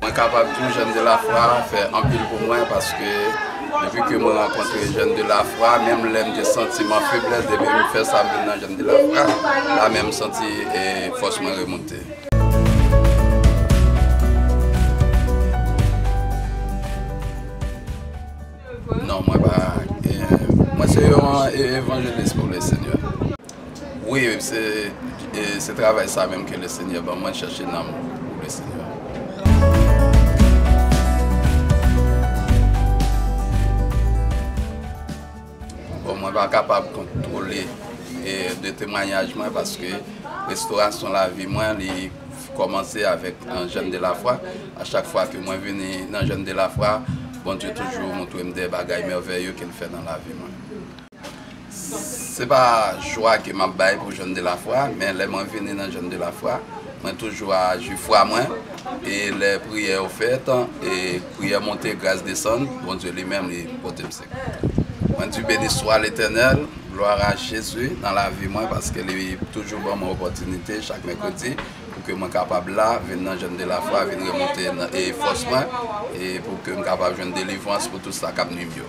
Mwen kapab tou Jeune de la Foi fè anpil pou mwen paske depi ke mwen rankontre Jeune de la Foi menm lè m te santi m an feblès depi m fè sa m vin nan Jeune de la Foi la menm m santi fòs mwen remonte. Non mwen pa Mwen se yon evanjelis pou le senyè. Wi se travay sa menm ke le senyè ban mwen chache nanm pou le senyè. Bon mwen pa kapab kontwole de temwanyaj mwen paske restorasyon lavi mwen li Kòmanse avèk nan Jèn de la Fwa. A chak fwa ke mwen vini nan Jèn de la Fwa, Bondye toujou montre m de bagay mèvèye ke l fè nan lavi mwen. Se pa jwa ke m ap bay pou Jèn de la Fwa, men lè mwen vini nan Jèn de la Fwa, mwen toujou aji fwa mwen, e lè priyè yo fèt, e priyè monte, gras desann, Bondye li menm li pote m sekou. Mwen di, Beni swa Letènèl! Gloire a Jésus nan lavi mwen paske li toujou ban mwen opòtinite chak mèkredi pou ke mwen kapab la vin nan jèn de la fwa vin remonte e fòs mwen e pou ke m kapab jwenn delivrans pou tou sa kap nwi m yo.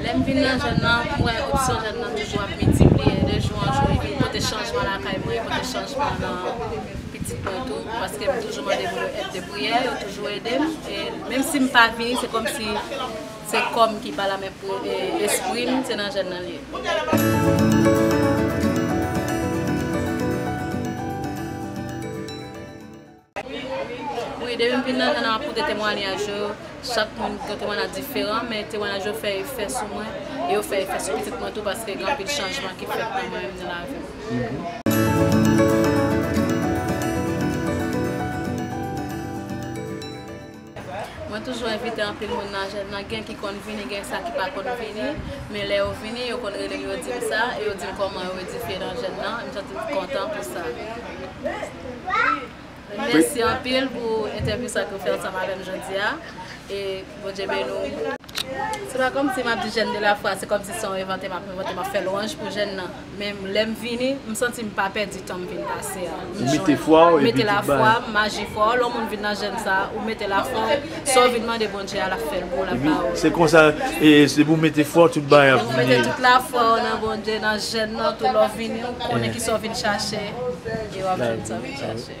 Lè m vin nan zòn nan, m wè opsyon jòn nan toujou ap miltipliye de jou an jou epi m pote chanjman lakay mwen, pote chanjman nan pitit mwen tou paske m toujou mande pou yo èd de priyè, yo toujou ede m e menm si m pa vini se kòmsi se kò m ki pa la men espri m se nan jòn nan l ye. Wi depi m vin nan jan an koute temwanyaj yo, chak moun gen temwanyaj diferan men temwanyaj yo fè efè sou mwen e yo fè efè sou pitit mwen tou paske gen anpil chanjman ki fèt nan mwen menm nan lavi m. Mwen toujou envite anpil moun nan jèn nan gen ki konn vini gen sa ki pa konn vini men lè yo vini yo konn rele m yo di m sa e yo di m kòman yo edifye nan jèn nan e m santi m kontan pou sa mèsi anpil pou entèvyou sa ke w fè ansanm avè m jodi a e Bondye beni w. Se pa kòmsi m ap di jèn de lafwa se kòmsi se yon envante m ap envante m ap fè lwanj pou jèn nan. Men lè m vini, m santi m pa pèdi tan m vin pase a. M jwenn. M mete lafwa m, maji fò. Lè yon moun vin nan jèn sa a, ou mete lafwa w, sa w vin mande Bondye a, l ap fè l pou w, l ap ba ou l. Se konsa, e depi ou mete fwa w, tout bagay ap vini. Lè w mete tout lafwa w nan Bondye, nan jèn nan tou, lè w vini, ou konnen kisa w vin chache, e w ap jwenn sa w vin chache.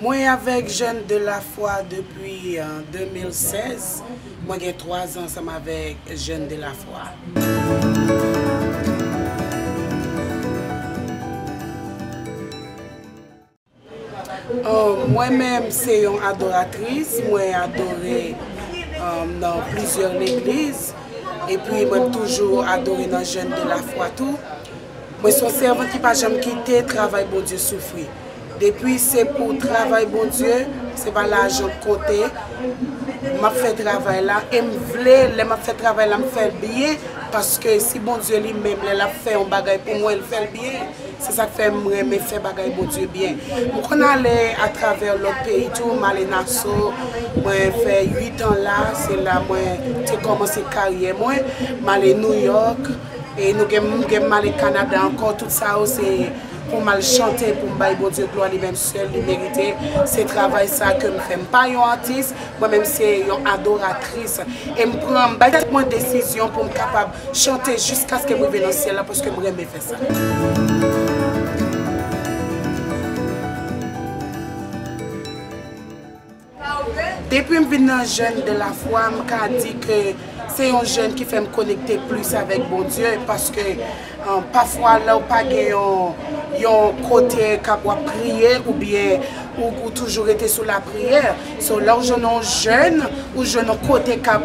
Mwen avèk Jeunes de la Foi depi 2016. Mwen gen 3 zan ansanm avèk Jeunes de la Foi. Mwen menm se yon adoratris, mwen adore nan plizyè legliz epi mwen toujou adore nan Jeunes de la Foi tou. Mwen se yon sèvant ki pa janm kite travay Bondye soufri. Depi se pou travay Bondye, se pa lajan k konte, m ap fè travay la e m vle lè m ap fè travay la m fè l byen paske si Bondye li menm lè l ap fè yon bagay pou mwen l fè l byen se sa k fè m renmen fè bagay Bondye byen. M konn ale atravè lòt peyi tou, m ale Naso, mwen fè uitan la, se la mwen te kòmanse karyè mwen, m ale Nouyòk e nou gen m gen m ale Kanada ankò tout sa yo se Pou mal chante poum bay Bondye glwa li menm sèl li merite se travay sa kem fè m pa yon atis mwen menm se yon adoratris e m pran m bay tèt mwen desizyon poum kapab chante jiskaskem rive nan syèl la paskem renmen fè sa. Depi m vin nan jeune de la foi m ka di ke se yon jeune ki fè m konekte plis avèk Bondye paske pafwa lè w pa gen yon yon kote kap wap priye ou byen ou toujou rete sou lapriyè so lè w jwenn yon jeune ou jwenn yon kote kap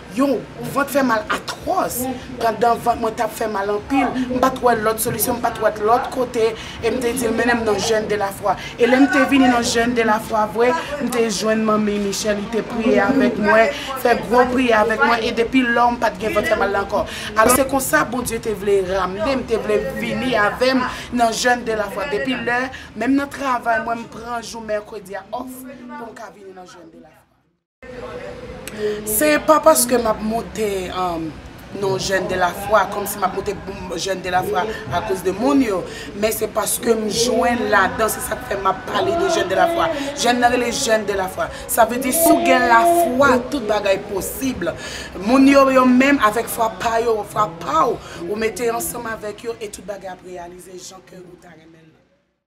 Yon vant fè mal atwòs. Pandan vant mwen t ap fè mal anpil, m pa t wè lòt solisyon, m pa t wè lòt kote, e m te di l, Mennen m nan jèn de lafwa. E lè m te vini nan jèn de lafwa vre, m te jwenn Manmi Michèl, li te priye avèk mwen, fè gwo priyè avèk mwen, e depi lò, m pa t gen vant fè mal la ankò. Alò, se konsa Bondye te vle ramne m, te vle vini avè m nan jèn de lafwa. Depi lè, menm nan travay mwen, m pran jou mèkredi a òf pou m ka vini nan jèn de lafwa. Se pa paske m ap moute non jèn de la fwa, kòm si m ap moute jèn de la fwa akoz de moun yo, men se paske m jwenn ladan, se sa k fè m ap pale de jèn de la fwa. Jèn nan rele jèn de la fwa. Sa vle di si w gen la fwa, tout bagay posib. Moun yo yo menm avèk fwa pa yo, fwa pa w, ou mete ansanm avèk yo e tout bagay ap reyalize jan kè ou ta renmen l lan.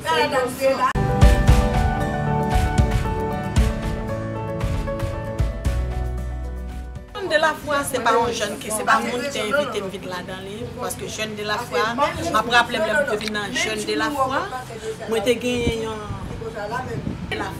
Sa a tap fè la. Jèn de la fwa se pa yon jèn ki se pa moun ki te envite m vin ladan li paske jèn de la fwa map raple m lè mwen te vin nan jèn de la fwa mwen te genyen yon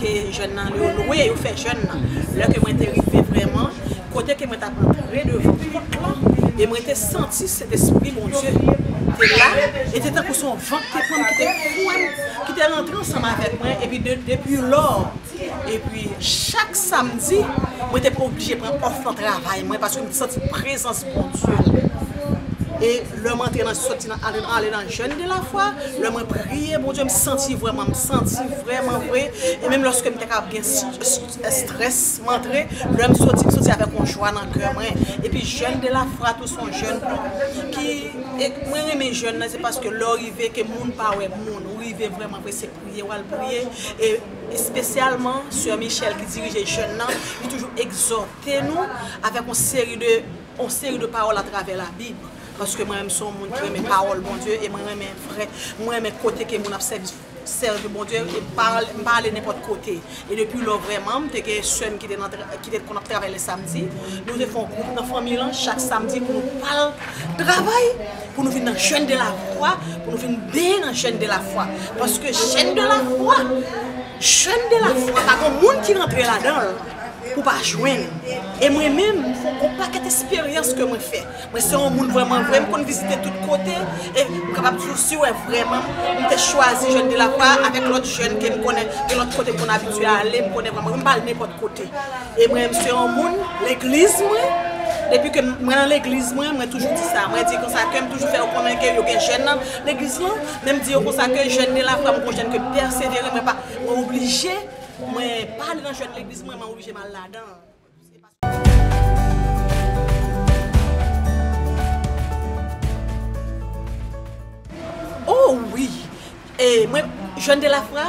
ke jèn nan yo lwe yo fè jèn nan lè ke mwen te rive vrèman kote ke mwen tap antre devan pòt lan e mwen te santi Sentespri Bondye te la e te tankou son van ki te pran m ki te fouwe m ki te rantre ansanm avèk mwen epi depi lò epi chak samdi mwen te oblije pran òf nan travay mwen paske m te santi prezans Bondye la e lè m antre nan soti nan ale nan Jèn de la fwa, lè mwen priye Bondye m santi vrèman, m santi vrèman vre, e menm lòske m te ka ap gen strès m antre, lè m soti m soti avèk yon jwa nan kè mwen, epi jèn de la fwa tou son jèn ki, e mwen renmen jèn nan se paske lè w rive ke moun pa wè moun, ou rive vrèman vre se priye wal priye, e espesyalman sè Michèl ki dirije jèn nan, li toujou egzòte nou avèk yon seri de. on seri de pawòl atravè la bib paske mwen menm son moun ki renmen pawòl Bondye e mwen renmen vrè mwen renmen kote ke moun ap sèvi sèvi Bondye e mpa mpa ale nenpòt kote e depi lò vrèman mte gen sèm ki te nan ki te konn ap travay lè samdi nou te fon gwoup nan fanmi lan chak samdi pou nou pral travay pou nou vin nan jèn de la fwa pou nou vin beye nan jèn de la fwa paske jèn de la fwa jèn de la fwa pa gon moun ki rantre ladanl pou pa jwenn e mwen menm gon pakèt esperyans ke mwen fè mwen se yon moun vrèman vre m konn vizite tout kote e m kapab di w si w wè vrèman m te chwazi jèn de la fwa avèk lòt jèn ke m konnen gen lòt kote m konn abitye ale m konnen vrèman m pa al nenpòt kote e mwen m se yon moun legliz mwen depi ke mwen nan legliz mwen mwen toujou di sa mwen di konsa ke m toujou fè yo konnen ke yo gen jèn nan legliz lan men m di yo konsa ke jèn de la fwa m gon jèn ke m pèsevere mwen pa mwen oblije Pou mwen pa ale nan jwèt legliz mwen mwen oblije mal ladan. Oh wi e mwen Jeune de la foi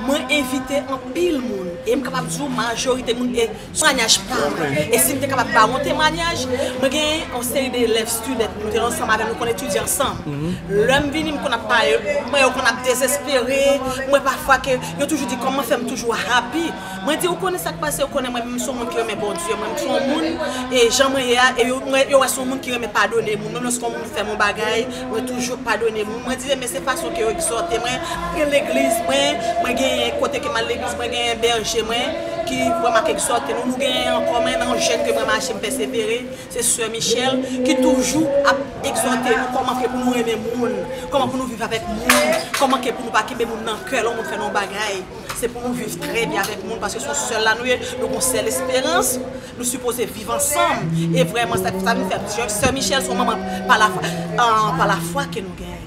mwen envite anpil moun e m kapab di w majorite moun e Temwanyaj pa m. E si m te kapab ba ou yon temwanyaj, mwen gen yon seri de elèv, student, nou te ansanm avè l, nou konn etidye ansanm. Lè m vini m konn ap pale, m wè yo konn ap dezespere, m wè pafwa ke yo toujou di kòman fè m toujou happy. Mwen di ou konnen sa k pase, ou konnen mwen menm m son moun ki renmen Bondye, mwen m son moun e jan mwen ye a e yo wè son moun ki renmen padone moun, menm lòske yon moun fè m yon bagay, Mwen toujou padone moun. Mwen di e men se fason ke yo egzòte mwen. Mwen gen legliz mwen, mwen genyen kote ke m'al legliz, mwen genyen bèje mwen ki pran m'ap egzòte nou. Nou genyen ankò menm yon jèn ke mwen mache m' pèsevere, se Soeur Michelle ki toujou ap egzòte nou kòman ke pou nou renmen moun, kòman pou nou viv avèk moun, kòman ke pou nou pa kenbe moun nan kè lè moun fè nou yon bagay. Se pou nou viv trè byen avèk moun paske son sèl la nou ye, nou gon sèl esperans. Nou sipoze viv ansanm e vreman sa nou fe ap di sè michel son manman pa la fwa ke nou genyen.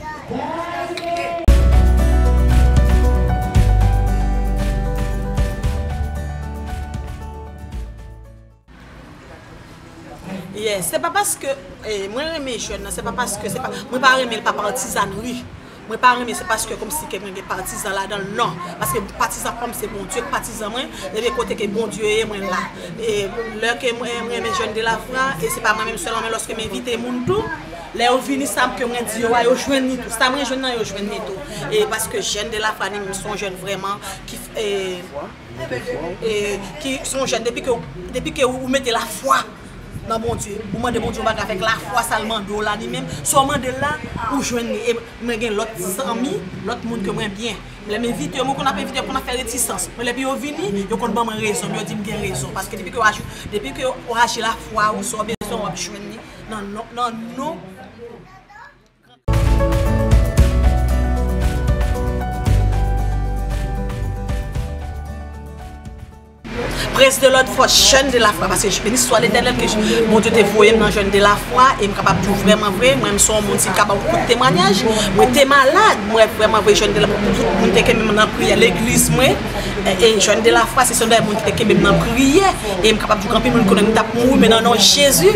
Yes se pa paske mwen renmen jèn nan se pa paske mwen pa renmen l pa pa antizanri Mwen pa renmen se paske komsi ke mwen gen patizan ladanl nan paske patizan pam se Bondye ki patizan mwen ebyen kote ke Bondye ye mwen la e lè ke mwen renmen jeune de la foi e se pa mwen menm selman men loske m envite moun tou lè yo vini sa ke mwen di yo a yo jwenn li tou sa mwen jwenn nan yo jwenn li tou e paske jeune de la foi li menm son jeune vreman ki e son jeune depi ke ou mete la foi. nan Bondye, ou mande Bondye yon bagay avèk lafwa sa l mande w la li menm, sa w mande l la, ou jwenn li. E mwen gen lòt zanmi, lòt moun ke mwen byen, lè m envite yo, mwen konn ap envite yo konn ap fè retisans, men lèpi yo vini, yo konn ban mwen rezon m, yo di m gen rezon, paske depi ke w aji, depi ke w aji lafwa ou, sa w bezwen w ap jwenn li nan non, nan non. Prince de l'autre force jeune de la foi paske beni swa l'eternel ke bon Dieu te voyem nan jeune de la foi em kapab diw vreman vre mwen son moun si m ka baw kout temwanyaj mwen te malad mwen vreman vre jeune de la foi tout moun te kenbe m nan priyè legliz mwen e jeune de la foi se sèl moun ki te kenbe m nan priyè em kapab diw gen anpil moun ki konnen m tap mouri men nan non Jesus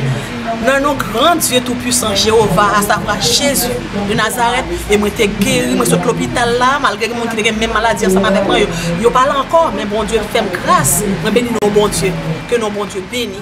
Nan non gran Dye tou pwisan Jewova a sa vre Jezi de Nazarèt e mwen te geri mwen sot lopital la malgre gen moun ki te gen menm maladi ansanm avèk mwen yo pa la ankò men Bondye fèm gras mwen beni non Bondye ke non Bondye beni.